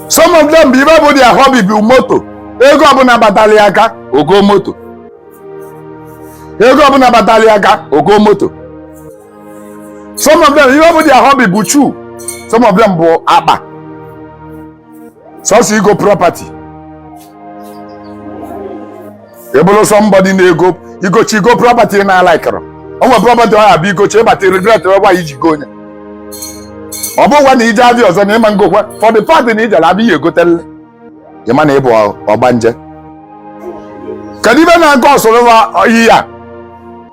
some of them bụ ibe bụ their hobby bụ moto ego ọbụna batalị ya aka o goo moto ego ọbụna batalị ya aka o goo moto some of them ibe bụ their hobby bụ shoe some of them bụ akpa sọsọ igo property ị bụrụ somebody na-ego i gochi igo property ị na-alaikịrọ o nwere property ọ abịa i gochi ị bata regret why i ji gonye ọ bụkwa na i je abịa ọzọ na ị ma ngokwa for the fact na i jere abịa ya egotelele ị ma na ị bụ ọgbanje kedu ibe na-aga ọsọrọ ihe a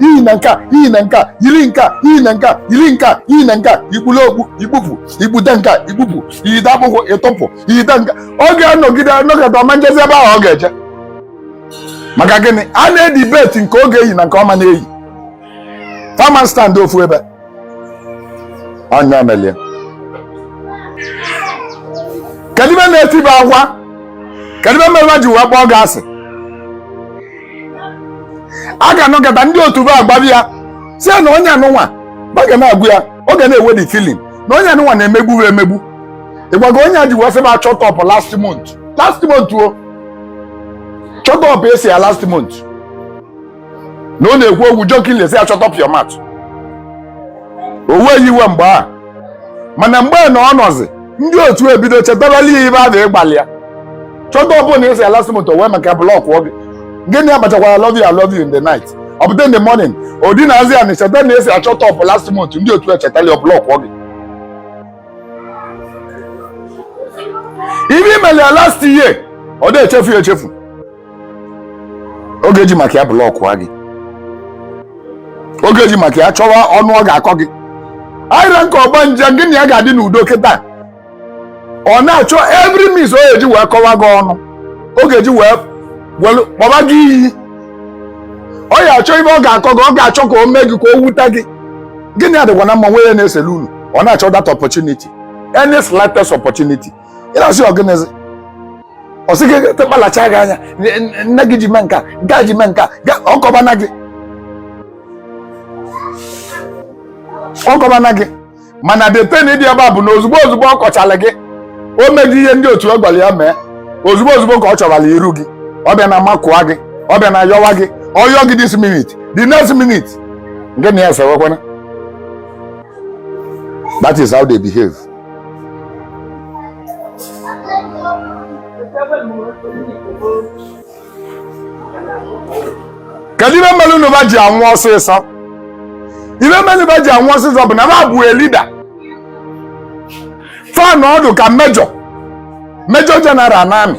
i yina nka i yina nka yiri nka i yina nka yiri nka i yina nka i kpulu okpu i kpupu i kpude nka i kpupu i yide akpụkwụ ị tụpụ i yide nka ọ ga-anọgide anọgide ọ ma njezi ebe ahụ ọ ga-eje maka gịnị a na-edibeti nke ọ ga-eyi na nke ọ ma na-eyi fa ma stand ofu ebe anya melie kedu ibe na-etiba agwa kedu ibe mere ha ji wee kpọọ gị asị a ga-anọgata ndị otu ba agbabịa sị na onye nụnwa ba ga na-agwa ya ọ ga na-enwe the feeling na onye nụnwa na-emegbu ha emegbu ị gwago onye a ji wee sị ba shut up last month last month ọ shut up ị sị ya last month na ọ na-ekwu okwu jokingly sị ya shut up your mouth o weghị iwe mgbe a mana mgbe na ọ nọzi ndị otu ebido chetabalị ya ibe a na ị gwalị ya shut up na ị sị ya last month o wee maka blọkụọ gị gị na ya bachakwara love you I love you in the night ọ pụta in the morning o dinazie ana cheta na ị sị ya shut up last month ndị otu echetali ọ blọkụọ gị ibe i meli ya last year ọ na-echefu ya echefu ọ ga-eji maka ya blọkụọ gị ọ ga-eji maka ya chọwa ọnụ ọ ga-akọ gị ara nke ọgbanje gị na ya ga-adị n'udo kịta ọ na-achọ every means ọ ga-eji wee kọwa gị ọnụ ọ ga-eji wee welu kpọba gị iyi ọ ya achọ ibe ọ ga-akọ gị ọ ga-achọ ka o mee gị ka o wute gị gị na ya dịkwa na mma nwe ya na-esele unu ọ na-achọ that opportunity any slightest opportunity ị na-asị ọ gịnịzi ọ sị gị kpalacha gị anya nne gị ji mee nka nke a ji mee nka ọ kọbana gị ọ kọbana gị mana the thing dị ebe a bụ na ozugbo ozugbo ọ kọchala gị o mego ihe ndị otu ya gwara ya mee ozugbo ozugbo ka ọ chọbara iru gị ọ bịa na makụọ gị ọ bịa na yọwa gị ọ yọọ gị this minute the next minute gị na ya esewekwana that is how they behave kedu ibe melụnụ ba ji anwụ ọsịsọ ibe melụ ba ji anwụ ọsịsọ bụ na ba bụ leader fa nọdụ ka major major general na army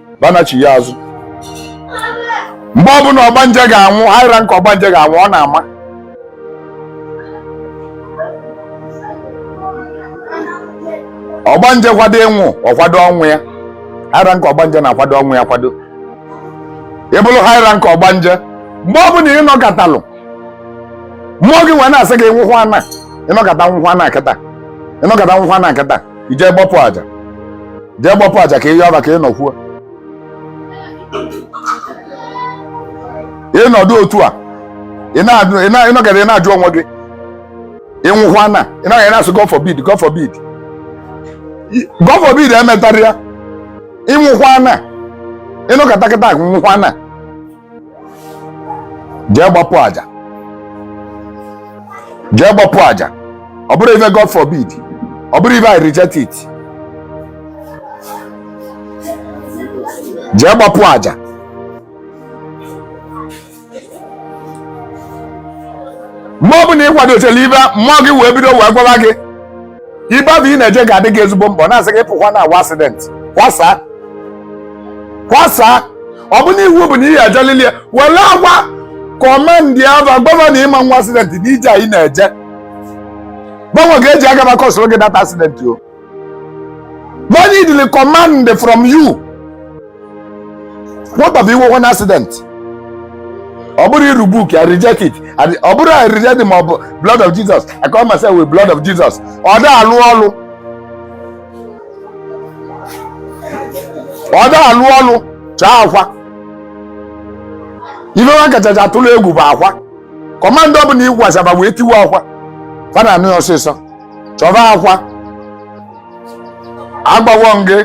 banachi ya azụ mgbe ọbụna ọgbanje ga-anwụ higher rank ọgbanje ga-anwụ ọ na-ama ọgbanje kwado ịnwụ ọ kwado ọnwụ ya higher rank ọgbanje na-akwado ọnwụ ya kwado ịbụrụ higher rank ọgbanje mgbe ọbụna ị nọkatalụ mmụọ gị wee na-asị gị nwụkwanụ ị nọkata nwụkwanụ kịta ị nọkata nwụkwanụ kịta i jee gbapụ aja jee gbapụ aja ka ị yọọ ba ka ị nọkwuo ị nọdụ otu a ị nọkata ị na-ajụ onwe gị ị nwụkwanụ ị nọkata na-asị God forbid God forbid God forbid emetara ya ị nwụkwanụ ị nọkata kịta nwụkwanụ jee gbapụ aja jee gbapụ aja ọ bụrọ ife God forbid ọ bụrọ ife I reject it jee gbapụ aja mgbe ọbụna ị kwadochala ibe mmụọ gị wee bido wee gwawa gị ibe ahụ ị na-eje ga-adị gị ezigbo mkpa na-asị gị pụkwanụ nwaa accident kwasaa kwasaa ọ bụ na iwu bụ na ihe ajalili ya were agwa commander va gọvanọ ị ma nwa accident na ije anyị na-eje gbanwe ga-eji aga maka ọsoro gị that accident o va needili command from you what of i nwekwanụ accident ọ bụrọ I rebuke i reject it And ọ bụrọ i reject it ma ọ bụ blood of jesus i cover myself with blood of jesus ọ da alụ ọlụ ọ da alụ ọlụ chọọ akwa ife wa kachacha atụlụ egwu bụ akwa command ọbụna ị gwasịa ba wee tiwa akwa fa na-anụ ya ọsịsọ chọba akwa agwawo m gị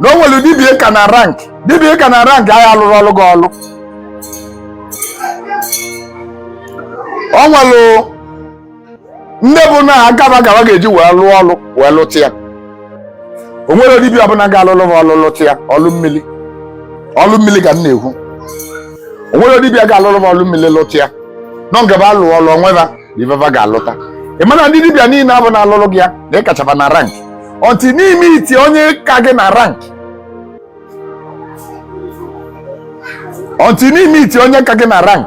na o nwerọ dibia ị ka na rank dibia ị ka na rank ya-alụrụ ọlụ gị ọlụ o nwerọ nne bụ na agaba gaba ga-eji wee lụọ ọlụ wee lụta ya o nwerọ dibia ọbụna ga-alụlụ m ọlụ lụta ya ọlụ mmili ọlụ mmili ka m na-ekwu o nwerọ dibia ga-alụlụ m ọlụ mmili lụta ya nọ ngaba alụ ọlụ onweba ife fa ga-alụta ị ma na ndị dibịa niine abụ na-alụlụ gị ya na ị kacha ba na rank until na i meet onye ka gị na rank until na i meet onye ka gị na rank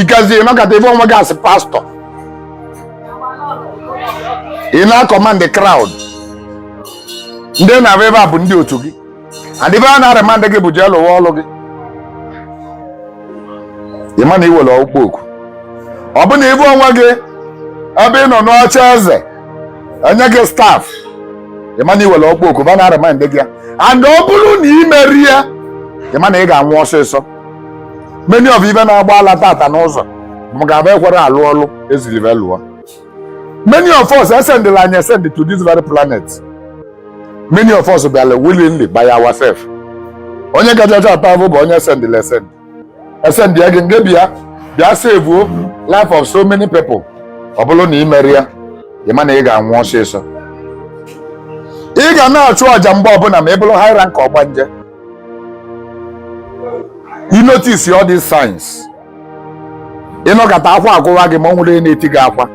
ikazie ị nọkata ị fụ onwe gị as pastor ị na-command crowd ndị na-abịa ebe a bụ ndị otu gị and ife a na-remind gị bụ jee lụwa ọlụ gị ị ma na ị nwere ọkpụkpọ oku ọ bụ na ị fụ onwe gị ebe ị nọ n'oche eze enye gị staff ị ma na ị nwere ọkpụkpọ oku ba na-remind gị ya and ọ bụrụ na ị merọ ya ị ma na ị ga-anwụ ọsịsọ many of ibe na-agba ala tata n'ụzọ bụ maka ba ekwerọ alụ ọlụ e ziri be lụọ many of us esendịlị anyị esend to this very planet many of us bịara willingly by ourselves onye kachacha ata afụ bụ onye esendịlị esend esend ya gị nge bịa bịa sevuo life of so many people ọ bụrụ na ị merọ ya ị ma na ị ga-anwụ ọsịsọ ị ga na-achụ aja mgbe ọbụla ma ị bụrụ high rank ọgbanje you notice all these signs ị nọkata akwa agụwa gị ma o nwerọ na-eti gị akwa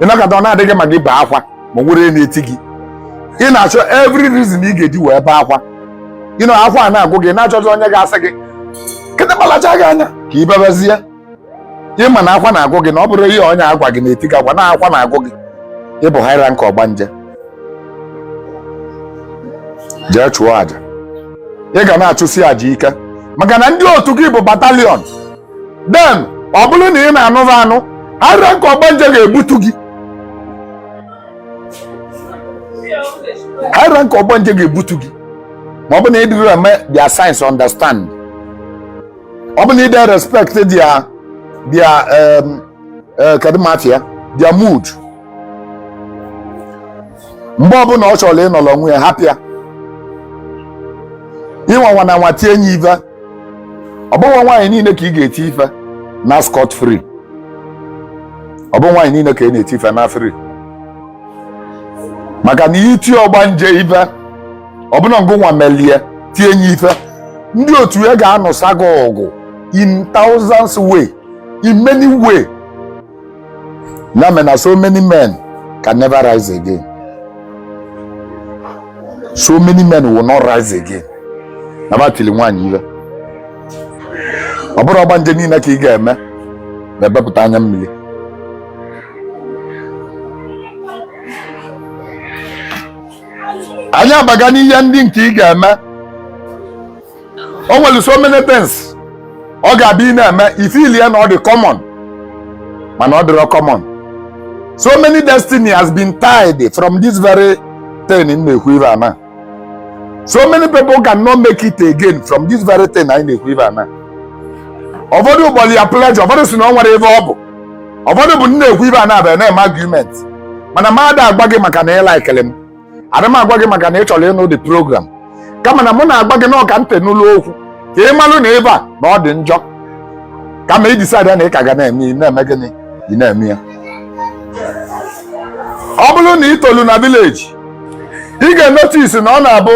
ị nọkata ọ na-adị gị ma gị bee akwa ma o nwerọ na-eti gị ị na-achọ every reason ị ga-eji wee bee akwa ị nọ akwa a na-agụ gị na-achọzi onye ga-asị gị nkịta lacha gị anya ka ị bebezie ị ma na akwa na-agụ gị na ọ bụrọ ihe onye agwa gị na-eti gị akwa na akwa na-agụ gị ị bụ high rank ọgbanje jee chụọ aja ị ga na-achụsi aja ike maka na ndị otu gị bụ battalion then ọ bụrụ na ị na-anụ ba anụ high rank ọgbanje ga-ebutu gị high rank ọgbanje ga-ebutu gị ma ọ bụ na ị dịrọ eme their signs understand ọ bụ na ị dị erespect their their eh, kedu ma afa ya their mood mgbe ọbụla ọ chọrọ ịnọrọ onwe ya hapụ ya ị nwakwana anwa tie nye ife ọ bụghị nwaanyị niile ka ị ga-eti ife na scot free ọ bụ nwaanyị niile ka ị na-eti ife na free maka na i tie ọgbanje ife ọ bụ na ngụ nwa melie tie nye ife ndị otu ya ga-anụsa gị ọgụ in thousands way in many way ya mere na so many men can never rise again so many men will not rise again na ba tiri nwaanyị ife ọ bụrọ ọgbanje niile ka ị ga-eme ma ebepụta anya mmiri anyị abaga n'ihe ndị nke ị ga-eme o nwere so many things ọ ga-abụ ị na-eme ị feeli ya na ọ dị common mana ọ dịrọ common so many destiny has been tied from this very thing m na-ekwu ife a na so many people cannot make it again from this very thing anyị na-ekwu ife a na ụfọdụ kpọlụ ya pleasure ụfọdụ sị na o nwerọ ife ọ bụ ụfọdụ bụ m na-ekwu ife a na-abịa na-eme argument mana m ada agwa gị maka na ị likelụ m ada m agwa gị maka na ị chọrọ ịnụ the program kama na mụ na-agwa gị na ọ ka ntị nụlụ okwu ka ị malụ na ife a na ọ dị njọ kama ị decide na ị ka ga na-eme ị na-eme gịnị ị na-eme ya ọ bụrụ na ị tolu na village ị ga-enotisi na ọ na-abụ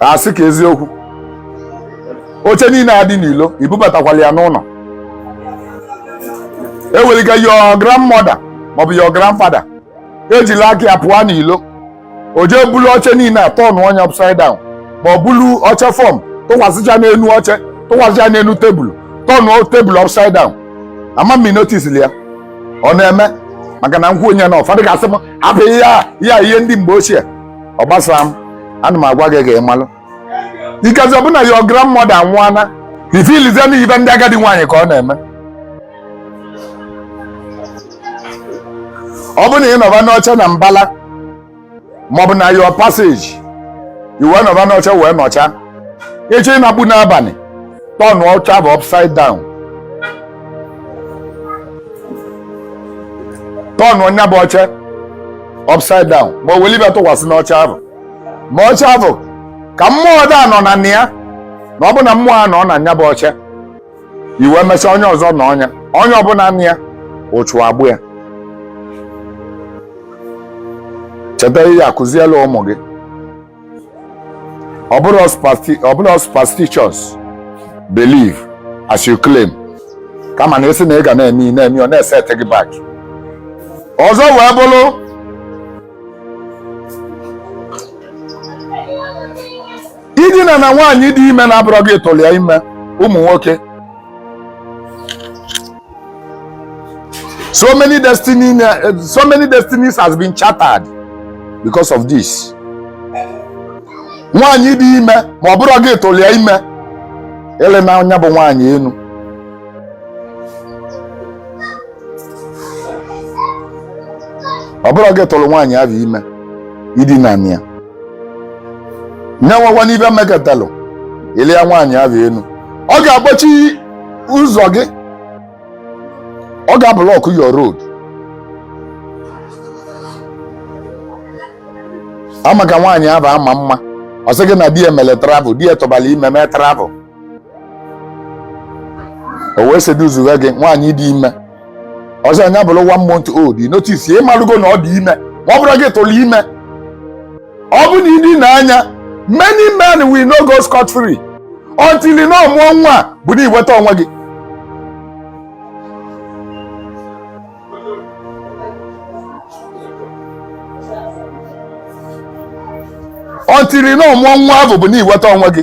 a sị ka eziokwu oche niile a dị n'ilo ibubatakwala ya n'ụlọ eweliga your grandmother maọbụ your grandfather ejili aka ya pụọ n'ilo o jee bulu oche niile a tọnụ nya upside down ma ọ bulu oche fọm tụkwasịcha n'elu oche tụkwasịcha n'elu tebụl tọnụ tebụl upside down ama m notisili ya ọ na-eme maka na m kwuo nya na ụfọdụ ga-asị m hapụ ihe a ihe a ihe ndị mgbe ochie ọ gbasarọ m ana m agwa gị ka ị malụ ikazi ọ bụ na your grandmother anwụọla ị feelzie na ife ndị agadi nwaanyị ka ọ na-eme ọ bụ na ị nọba n'oche na mbala maọbụ na your passage ị wee nọba n'oche wee nọcha ị chọ ịnakpu n'abalị tọn oche ahụ upside down tọn nya bụ oche upside down ma o weli ife tụkwasị n'oche ahụ ma oche ahụ ka mmụọ ada anọ na nya na ọ bụ na mmụọ anọọ na nya bụ oche ị wee mesịa onye ọzọ nọọ nya onye ọbụla nọ na ya ụchụ agbụ ya cheta ihe a kụzielụ ụmụ gị ọ bụrọ superstitious belief as you claim kama na a sị na ị ga na-eme na-eme ọ na-eset gị back ọzọ wee bụrụ idina na nwaanyị dị ime na-abụrọ gị tụlụ ya ime ụmụ nwoke So many destinies has been shattered because of this. Nwaanyị dị ime ma ọ bụrọ gị tụlụ ya ime idina nya bụ nwaanyị enu. Ọ bụrọ gị tụrụ nwaanyị ahụ ime idina ya. nya enwekwana ibe mekatalụ ị lịa nwaanyị ahụ enu ọ ga-akpọchi ụzọ gị ọ ga-ablọkụ your road ama ka nwaanyị ahụ ama mma ọ sị gị na di ya mere travel di ya tụbara ime mee travel o wee seduzuwe gị nwaanyị dị ime ọ sị nya bụrụ one month old notice ị malụgo na ọ dị ime ma ọ bụrọ gị tụrụ ime ọ bụ na i dina nya many men will not go scot free until na ọ mụọ nwa bụ na iweta onwe gị until na ọ mụọ nwa bụ bụ na iweta onwe gị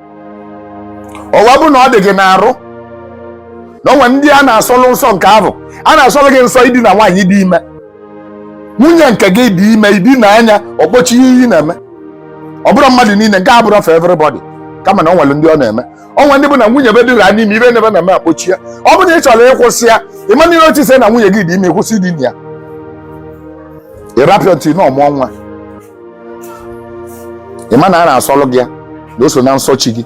ọwa bụ na ọ dị gị n'arụ na o nwe ndị a na-asọlụ nsọ nke ahụ a na-asọlụ gị nsọ idina nwaanyị dị ime nwunye nke gị dị ime i dina nya ọ kpọchie ihe ị na-eme ọ bụrọ mmadụ niile nke a abụrọ for everybody kama na o nwere ndị ọ na-eme o nwe ndị bụ na nwunye be dịra n'ime ibe nine be na-eme akpọchi ya ọ bụ na ị chọrọ ịkwụsị ya immediately ị notice na nwunye gị dị ime ị kwụsị idina ya ị rapịa until na ọ mụọ nwa ị ma na a na-asọlụ gị ya na o so na nsọ chi gị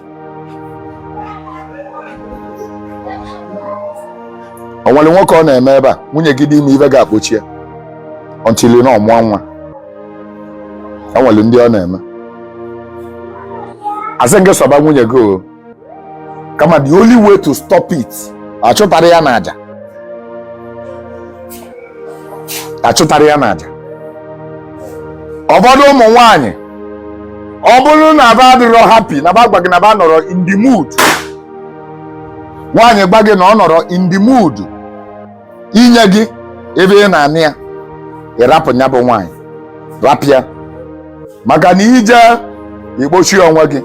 o nwere nwoke ọ na-eme ebe a nwunye gị dị ime ibe ga-akpọchi ya until na ọ mụọ nwa o nwere ndị ọ na-eme asị gị sọba nwunye gị o kama the only way to stop it achụtara ya n'aja achụtara ya n'aja ụfọdụ ụmụ nwanyị ọ bụrụ na ba adịrọ happy na ba gwa gị na ba anọrọ in the mood nwaanyị gwa gị na ọ nọrọ in the mood inye gị ibe ị na-anị ya ị rapụ nya bụ nwaanyị rapịa maka na i je ịkpọchi onwe gị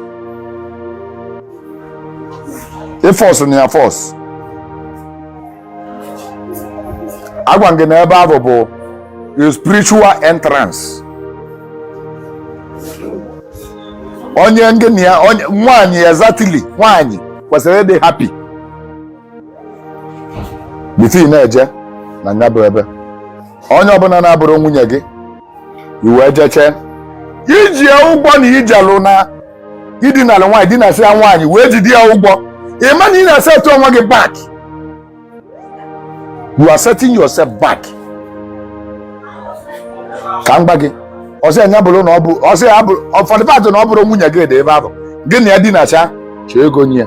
ị fọsụ nya force agwa gị na ebe ahụ bụ spiritual entrance onye ngị na ya nwanyị exactly nwanyị kwesịrị ịdị happy bifọ ị na-eje na nya bụ ebe onye ọbụla na-abụrọ nwunye gị i wee jechaa i ji ya ụgwọ na ijelụ na idinala nwaanyị dinasịa nwaanyị wee jide ya ụgwọ ị ma na ị na-esetụ onwe gị back you are setting yourself back ka m gwa gị ọ sị nya bụrụ na ọ bụ ọ sị ya bụrụ ọfọdụ patụ na ọ bụrọ nwunye gị dị ebe ahụ gị na ya dinacha chọọ ego nye ya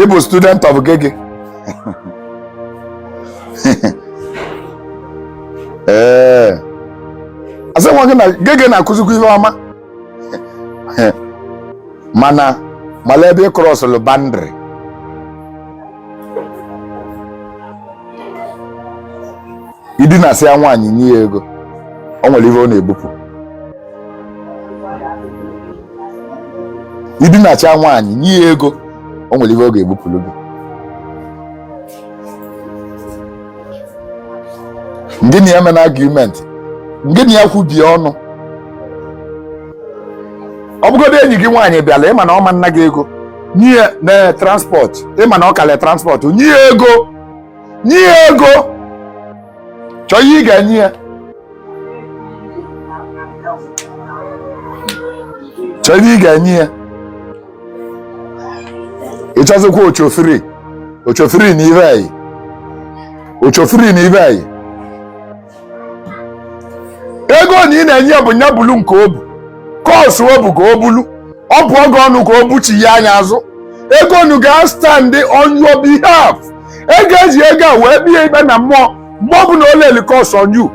ị bụ student of Geh Geh ee eh. asị nwa gị na Geh Geh na-akụzikwa ihe ọma mana mala ebe ị crossụlụ boundary i dinasịa nwaanyị nye ya ego o nwere ihe ọ na-ebupụ i dinachaa nwaanyị nye ya ego o nwere ihe ọ ga-ebupụrụ gị ngị na ya mena argument ngị na ya kwubie ọnụ ọ bụgodo enyi gị nwaanyị bịala ị ma na ọ ma-ana gị ego nye ya na transport ị ma na ọ kalịa transport nye ya ego nye ya ego chọọ ihe ị ga-enye ya chọọ ihe ị ga-enye ya ị chọzikwa oshofree oshofree na ibe anyị oshofree na ibe anyị ego nu ị na-enye ya bụ nya bulu nke o bu curse o bu ka o bulu ọ bụọ gị ọnụ ka o buchi ya anya azụ ego nu ga-stand on your behalf e ga-eji ego a wee bie ikpe na mmụọ mgbe ọ bụla o layli curse on you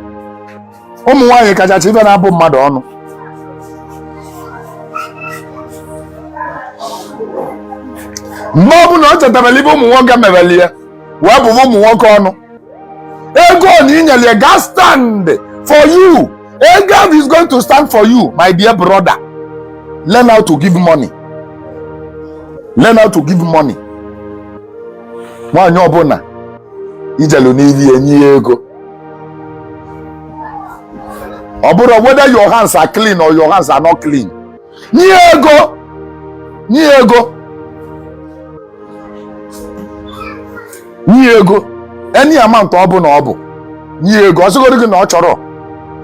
ụmụ nwaanyị kachacha ife na-abụ mmadụ ọnụ mgbe ọ bụla ọ chetabela ife ụmụ nwoke mebeli ya wee bụba ụmụ nwoke ọnụ ego nu i nyere ya ga stand for you ego ahụ is going to stand for you my dear brother learn how to give money learn how to give money nwaanyị ọbụla i jelu n'ili ya nye ya ego ọ bụrụ whether your hands are clean or your hands are not clean nye ego nye ego nye ego any amount ọ bụla ọ bụ nye ego ọ sịgodi gị na ọ chọrọ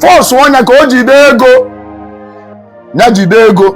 forceụọ nya ka o jide ego ya jide ego